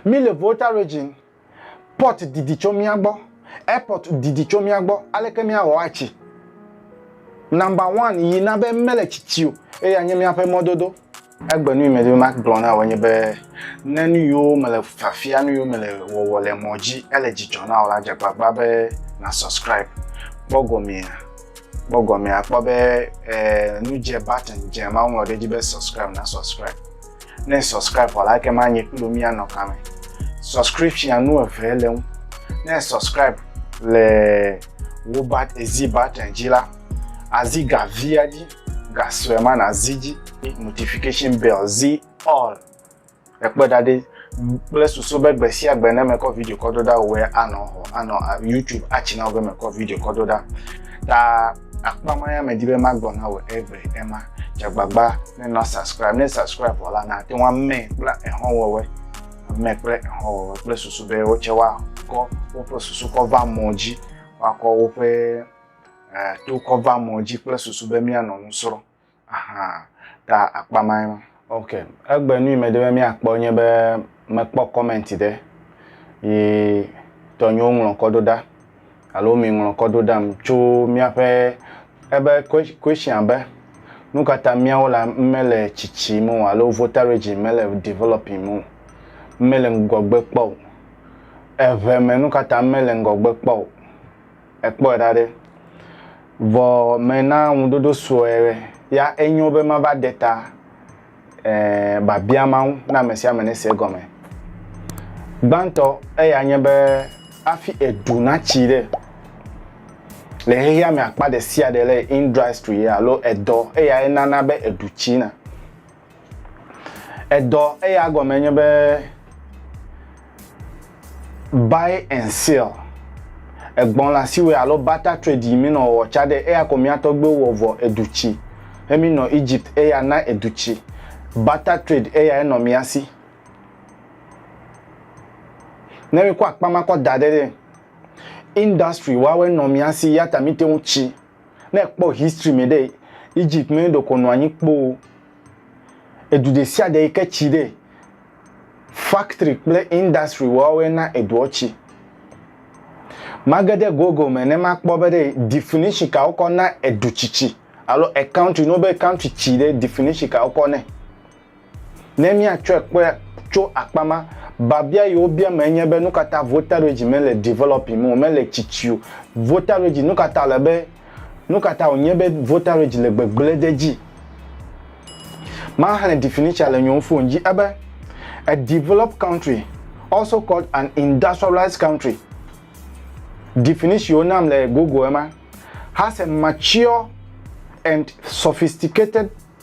Míle Volta Region, port didi tso mía gbɔ, airport didi tso mía gbɔ, aleke míawɔ atsi number one yi na be mele tsitsi o, eya nye míaƒe mɔdodo. Egbe nu yi medi be magblɔ na wò enye be, ne nu yiwo mele fiafia, nu yiwo mele wɔwɔ le mɔ dzi ele dzidzɔ na wò la, dze agbagba be na subscribe. Kpɔ gɔmea, kpɔ gɔmea, kpɔ be eh, nu dze button dze ma woŋlɔ ɖe edzi be subscribe, na subscribe. Ne subscribe vɔ la, ekema anyi kpli wò míanɔ kame. Subscription nu eve le ŋu. Ne subscribe le wo bat ezi button dzi la, azi ga via dzi, ga sue ma nazi dzi. Notification bell zi all. Ekpe ɖa ɖi kple susu be gbe sia gbe ne mekɔ video kɔ do ɖa wòe anɔ xɔ anɔ YouTube atsi na wò be mekɔ video kɔ do ɖa. Ta Akpa ma ya medi be magbɔ na wò egbe ema. Dze agbagba ne nɔ subscribe. Ne subscribe wɔ la, nàte ŋu amɛ kple exɔwɔwɔe. Amɛ kple exɔwɔwɔe kple susu be wotsɛ woakɔ woƒe susu kɔ va mɔ dzi. Woakɔ woƒe eh, to kɔ va mɔ dzi kple susu be míanɔ nu srɔ̃. Aha, ta akpa mae ma. Ok, egbe nui mede be míakpɔ nye be mekpɔ comment ɖe yi tɔnyewo ŋlɔkɔ ɖo ɖa alo mi ŋlɔkɔ ɖo ɖam tso míaƒe ebe question abe nukata míawo la mele tsitsim o alo votarage mele developing o, mele ŋgɔgbe kpɔ o, eŋe me nukata mele ŋgɔgbe kpɔ o. ekpɔe ɖa ɖe. Vɔ mena ŋuɖoɖo sue ya enyo be mava ɖe ta eh, biabia Mawu na ame sia ame nese egɔme. Gbãtɔ eya nye be hafi edu natsi ɖe le xexea me akpa ɖe sia ɖe le industry alo edɔ eyae nana be edu tsina. Edɔ eya gɔme nye be buy and sell. Egbɔn la siwe alo barter trade yi mi nɔ wɔwɔ ca ɖe eya ko mia tɔgbewo wɔ vɔ edu ci. Hemi nɔ Egypt eya na edu ci. Barter trade eya enɔ mia si. Ne mi kɔ akpa ma kɔ da ɖe ɖe industry wawe nɔ mia si yata mi te ŋu ci Ne ekpɔ history me ɖe, Egypt me ɖeko nɔ anyi kpoo. Edu ɖe sia ɖe yi ke tsi ɖe, factory kple industry woawoe na eduɔ tsi. Mage ɖe Google me ne makpɔ be ɖe definition ka wokɔ na edu tsitsi alo ecountry, ne wobe country tsi ɖe, definition ka wokɔ nɛ. Ne míatsɔe kpɔe tso akpa ma, biabia yi wobia mee nye be, Nukata Votaredzi mele developing o, mele tsitsi o? Votaredzi, nukata wòle be, nukata wònye be votaredzi le gbegblẽ ɖe edzi? Maxlẽ definition le nyewo fon dzi ebe, A developed country, also called an industrialized country, definition yi wonam le Google ema, has a mature and sophisticated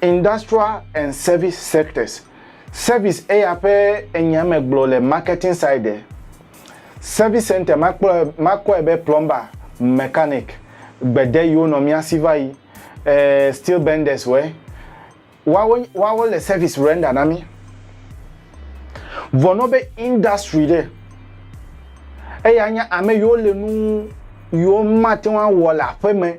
Industrial and service sectors. Service eya ƒe enya me gblɔ le marketing side. Service center makpɔe makɔe be plumber, mechanic, gbede yiwo nɔ mía si va yi, eh, steel benders wɛ. Woawo woawo le service render na mí. Vɔ nɔ be industry ɖe eya nya ame yiwo le nu yiwo mate ŋu awɔ le aƒeme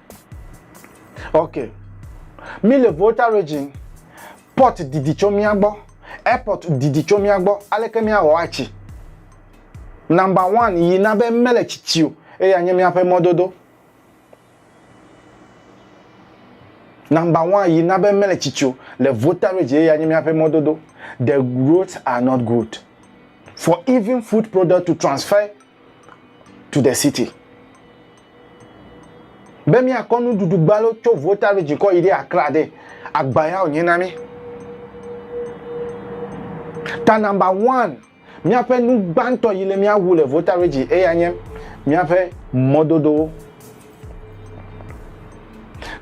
ok mi le volta region port didi tso mía gbɔ airport didi tso mía gbɔ aleke míawɔ atsi number one yi na be mele tsitsi o eye anye míaƒe mɔdodo number one yi na be mele tsitsi o le volta region eye anye míaƒe mɔdodo the roads are not good for even food product to transfer to the city. Be míakɔ nuɖuɖu gbalo tso Volta Region kɔ yi ɖe Accra ɖe, agba ya wònye na mí. Ta nɔmba one, míaƒe nu gbãtɔ yi le míawu le Volta Region eya nye míaƒe mɔdodowo.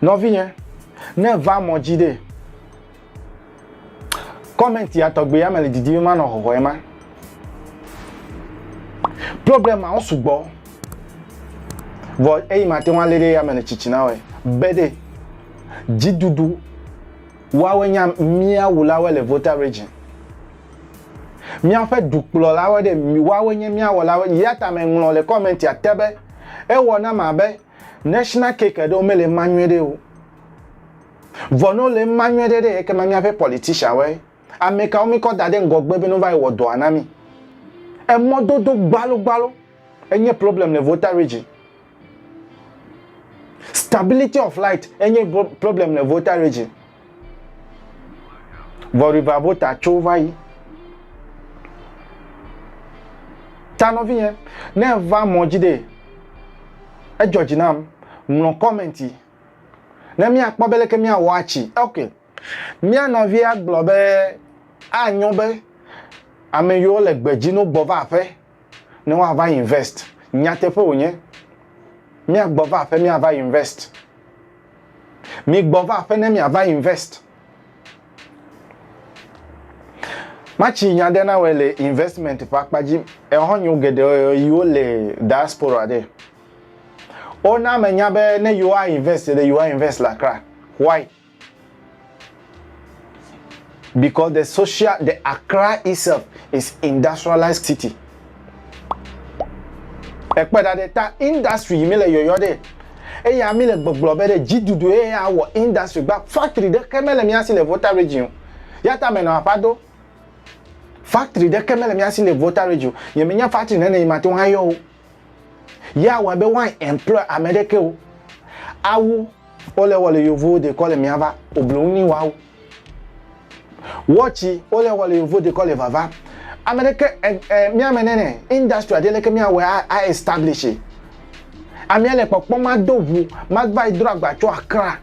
Nɔvinye, ne èva mɔ dzi ɖe, Comment ya tɔgbe ya me le didi ma nɔ hɔhɔe ma. Problem ma wo sugbɔ. Vɔ eyi ma te ŋu alé ɖe ya me le tsitsi na wɔe. Be ɖe dziɖuɖu woawe nya mía wulawe le Volta region. Míaƒe dukplɔlawe ɖe woawe nye mía wɔlawe. Ya ta me ŋlɔ le comment ya te be ewɔ na ma be national cake ɖewo mele ma nyuie ɖe o. Vɔ nɔ le ŋma nyɔɛɖe ɖe yɛ kema miaƒe politician woe amɛkawo mi kɔ daɖe ŋgɔgbe be no va yi wɔ dɔa na mi. Emɔ dodo gbalo gbalo enye problem le Volta region. Stability of light enye problem le Volta region. Vɔ River Volta tso va yi. Ta nɔvinyɛ ne va mɔdzi ɖe edzɔdzi nam mlɔ comment yi. Ne míakpɔ be leke míawɔ atsi. Ok. Mía nɔvia gblɔ be anyo be ame yiwo le gbe dzi no gbɔ va aƒe ne woava invest. Nyateƒe wònye. Míagbɔ va aƒe míava invest. Migbɔ va aƒe ne miava invest. Matsi nya ɖe na wɔ le investment ƒe akpa dzi. Ehɔnyo geɖe yiwo le diaspora ɖe. O na me nya be ne you a invest ɖe you a invest le Accra. Why? Because the social the Accra itself is industrialized city. Ekpe da ɖe ta industry yi mi le yɔyɔ ɖe. Eya mi le gbɔgblɔ be ɖe dzidudu ye ya wɔ industry gba factory ɖe ke mele mi asi le Volta region. Ya ta menɔ aƒa do. Factory ɖe ke mele mi asi le Volta region. Ye mi nya factory nene yi ma to ha yɔ o. Ye awɔe be woa employ ame ɖeke o. Awu wole wɔ le yovowo dekɔ le miava obloŋ ni woawu. Wɔtsi wole wɔ le yovowo dekɔ le vava. Ame ɖeke miame nene industry aɖe leke miawɔe a establish. Amea le kpɔkpɔ mado ʋu mava yi dro agba tso Accra.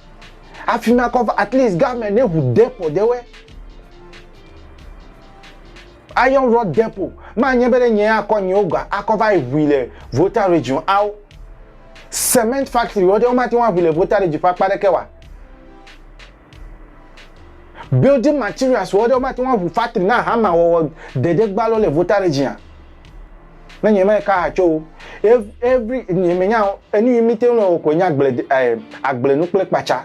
Afi ma kɔ va at least government ne ʋu depot ɖewɔe. Iron Rod Depot ma nye be ɖe nye ya kɔ nyewo ga akɔ va yi ʋui le Volta Region ao. Cement factory wo ɖe wo mate ŋu aʋui le Volta Region ƒe akpa ɖeke oa? Building materials wo ɖe wo mate ŋu aʋui factory na hama wɔwɔ ɖeɖe gba lo le Volta Region a? Ne nye me ka ha tso wo. Every nye me nya enu yi mi te ŋu le wɔ ko nye agble eh, agble nu kple kpatsa.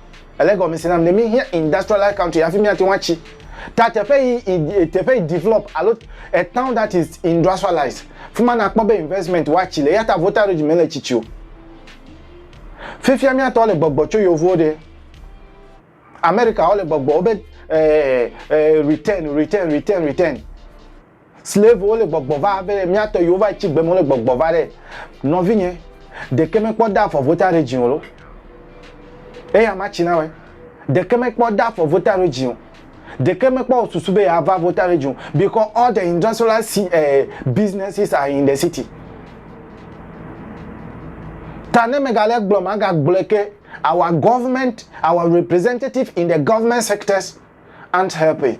Ele gɔmesi nam ne míhiã industrialized country hafi míate ŋu atsi. Ta teƒe yi teƒe yi develop alo a town that is industrialized. Fima nakpɔ be investment woatsi le eyata voltage mele tsitsi o. Fifia míatɔ le gbɔgbɔ tso yevuwo ɖe. America wole gbɔgbɔ wobe eh, eh, return, return, return, return. Slave wole gbɔgbɔ va be mia tɔ yewo va yi tsi gbeme wole gbɔgbɔ va ɖe nɔvinye ɖeke me kpɔ da afɔ vota ɖe dzi o lo eya ma tsi na we ɖeke me kpɔ da afɔ vota ɖe dzi o ɖeke me kpɔ o susu be ya va vota ɖe dzi o because all the industrial si eh, businesses are in the city ta ne me ga le gblɔ ma ga gblɔ ke our government our representative in the government sectors aren't helping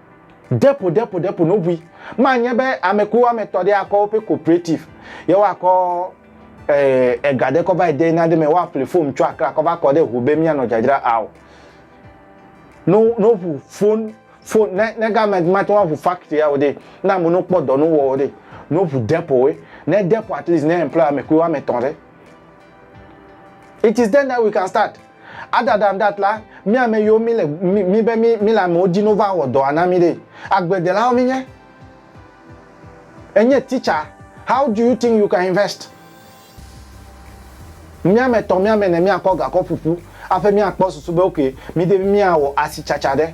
Ɖepo ɖepo ɖepo no bui. Ma nye be ame ku ame tɔ ɖe akɔ woƒe cooperative. Ye wa kɔ eh ega ɖe kɔ va yi de na ɖe me wa ƒle fom tsɔ akra kɔ va kɔ ɖe ho be mia nɔ dzadzra ao. No no ƒu fon fon ne ne ga me ma te wa ƒu factory ao ɖe na mo no kpɔ dɔ no wɔ ɖe no ƒu ɖepo we. Ne ɖepo at least ne employ ame ku ame tɔ ɖe. It is then that we can start. Adada ŋda tla mí ame yiwo mí le mí be mí mí le amewo di no va wɔ dɔa na mí ɖe. Agbledelawo mí nye. Enye titsa. How do you think you can invest? Mí ame tɔ mí ame ne mí akɔ gakɔ ƒuƒu aƒe mí akpɔ susu be ok mí de mí awɔ asitsatsa ɖe.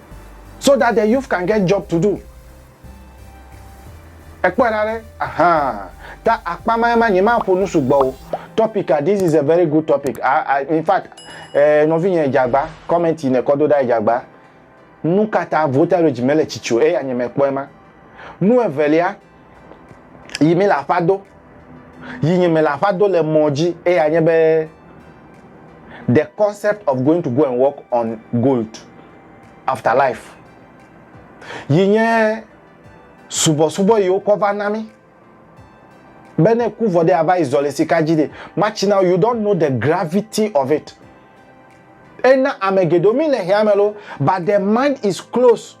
so that the youth can get job to do. Ekpɔe ɖa ɖe, ahaa, ta akpa ma ema nye ma ƒo nu sugbɔ o. Topic a, this is a very good topic. A, a, in fact, eh, nɔvi nye Ejagba, comment yi ne kɔ do ɖa Ejagba. Nu kata voltage mele tsitsi o, eya nye me kpɔe ma. Nu evelia, yi mi le aƒa do yi nyi mi le aƒa do le mɔ dzi eya nye be the concept of going to go and work on gold after life yi nye subɔsubɔ yi wokɔ va na mi be ne ku vɔ de ava yi zɔ le sika dzi de matsi na you don't know the gravity of it ena ame geɖewo mi le hea me lo but the mind is close.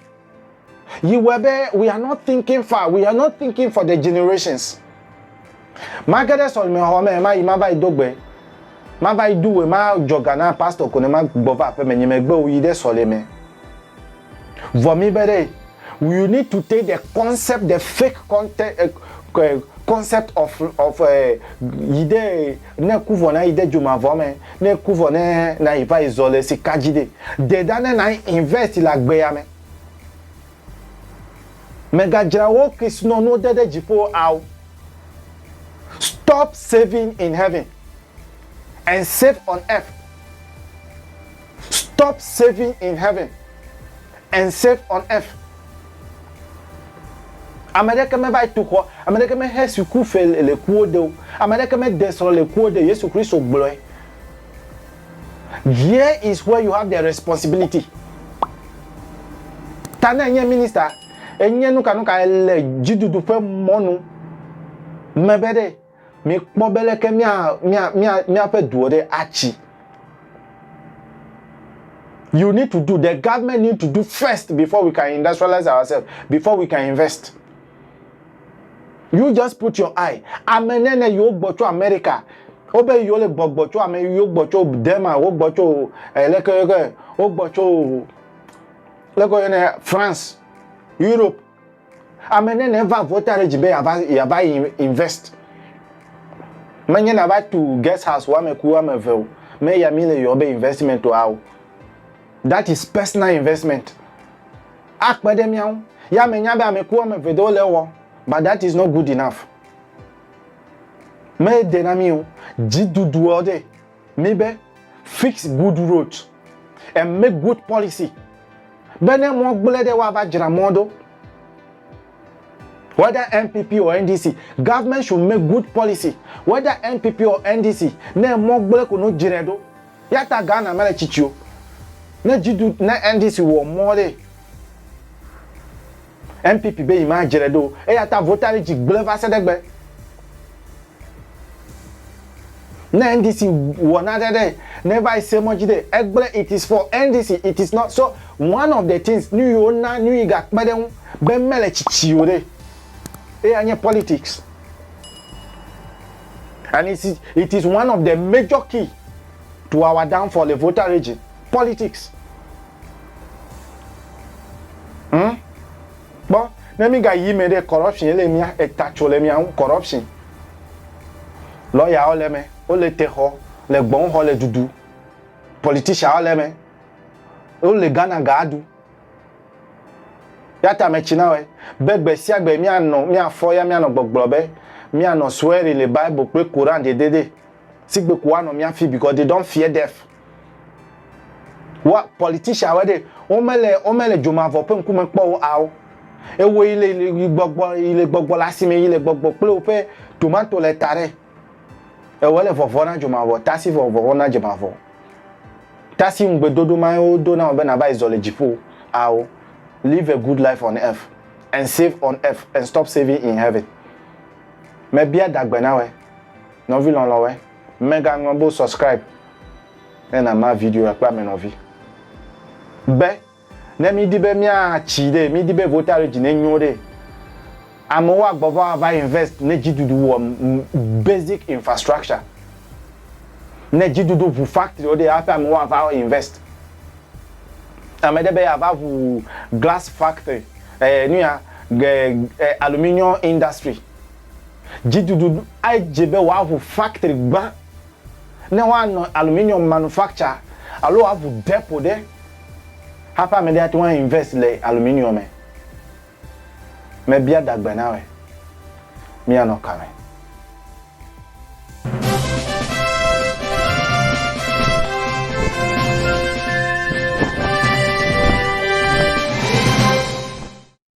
Yiwɔe be we are not thinking far, we are not thinking for the generations. Make ɖe sɔlimexɔ me, ma yi ma va yi do gbe, ma va yi do we, ma dzɔ ga na pastor ko ne ma gbɔ va aƒeme nye megbe o yi ɖe sɔlime. Vɔ mi be ɖe, you need to take the concept, the fake content, uh, concept of, of uh, yi ɖe Ne ku vɔ nayi de dzomavɔ me, ne ku vɔ ne nayi vayi zɔ le sika dzi ɖe, de ɖa ne nayi invest le agbea me. Mègadzra wò Krisnɔnuwo de ɖe dziƒo ao. Stop saving in heaven and save on earth. Stop saving in heaven and save on earth. Ame ɖeke me va yi tu xɔ, ame ɖeke me xe suku fe le kuwo de o, ame ɖeke me de srɔ̃ le kuwo de o. Yesu Kristo gblɔe. There is where you have the responsibility. Ta ne enye minister, enye nukanuka ele dzidudu ƒe mɔnu me be ɖe. Mikpɔ be leke mía, mía, mía, míaƒe duwo ɖe atsi. You need to do, the government need to do first before we can industrialize ourselves, before we can invest. You just put your eye. Ame nene yiwo gbɔ tso Amerika, wobe yiwo le gbɔgbɔ tso ame yiwo gbɔ tso Dema, wogbɔ tso eh, leke leke, wogbɔ tso leke yɔnɛ France, Europe. Ame nene va vɔ ta ɖe dzi be yava yava invest. Menye na va tu guest house woame ku woame eve o. Me ya mi le yɔ be investment wa o. That is personal investment. Akpe ɖe miawo. Ya me nya be ame ku woame eve do le wɔ. But that is not good enough. Me de na mi o. Dzi dudu ɔ de. Mi be fix good roads and make good policy be ne mɔ gblẽ ɖe woava dzra mɔ ɖo. Whether NPP or NDC, government should make good policy whether NPP or NDC ne mɔ gblẽ ko no dzrɛ ɖo. Yata Ghana mele tsitsi o. Ne dzi du ne NDC wɔ mɔ ɖee. NPP be yemadzre ɖo o, eyata votari dzi gblẽ va se ɖe egbe. Ne NDC wɔ naɖe ɖe, ne eva yi se mɔ dzi ɖe, egblẽ it is for NDC, it is not so one of the things nuyi wona, nuyi ga kpe ɖe ŋu be mele tsitsi o ɖe, eya nye politics and it is, it is one of the major key to our downfall le votari dzi, politics. Hmm? Kpɔ, ne mi ga yi me ɖe corruption ele mia eta tso le mia ŋu corruption. Lawyer wo le me, wo le te xɔ, le gbɔn xɔ le dudu. Politician wo le me. Wo le Ghana ga du. Yata me tsi na we be gbe sia gbe mia nɔ mia fɔ ya mia nɔ gbɔgblɔ be mia nɔ swearing le Bible kple Quran de de de. Sigbe ko wa nɔ mia fi because they don't fear death. wa politician wa ɖe wo me le wo me le dzomavɔ ƒe ŋkume kpɔ wo awo ewo yi le yi gbɔgbɔ yi le gbɔgbɔ le asime yi le gbɔgbɔ kple woƒe tomato le ta ɖe ewo le vɔvɔ na dzomavɔ tasi vɔvɔ na dzomavɔ tasi ŋugbedodo ma wo do na wo be nava yi zɔ le dziƒo awo live a good life on earth and save on earth and stop saving in heaven mebia dagbe na we nɔvi lɔlɔwe Mega ŋlɔ be subscribe ne na ma video ya kple ame nɔvi be ne mi di be mia tsi ɖe mi di be vota ɖe dzi ne nyo ɖe ame wo agbɔ va va invest ne dzi dudu wɔ basic infrastructure ne dzi dudu ʋu factory wo ɖe ya ƒe ame wo ava invest ame ɖe be ya va ʋu glass factory eh, nuya eh, aluminium industry Dzidudu adze be wòaʋu faktri gbã ne woanɔ aluminium manufacture alo wòaʋu depo ɖe hafi ame aɖe ate ŋu a invest le aluminium me. Mebia dagbe na wòe, míanɔ ka me?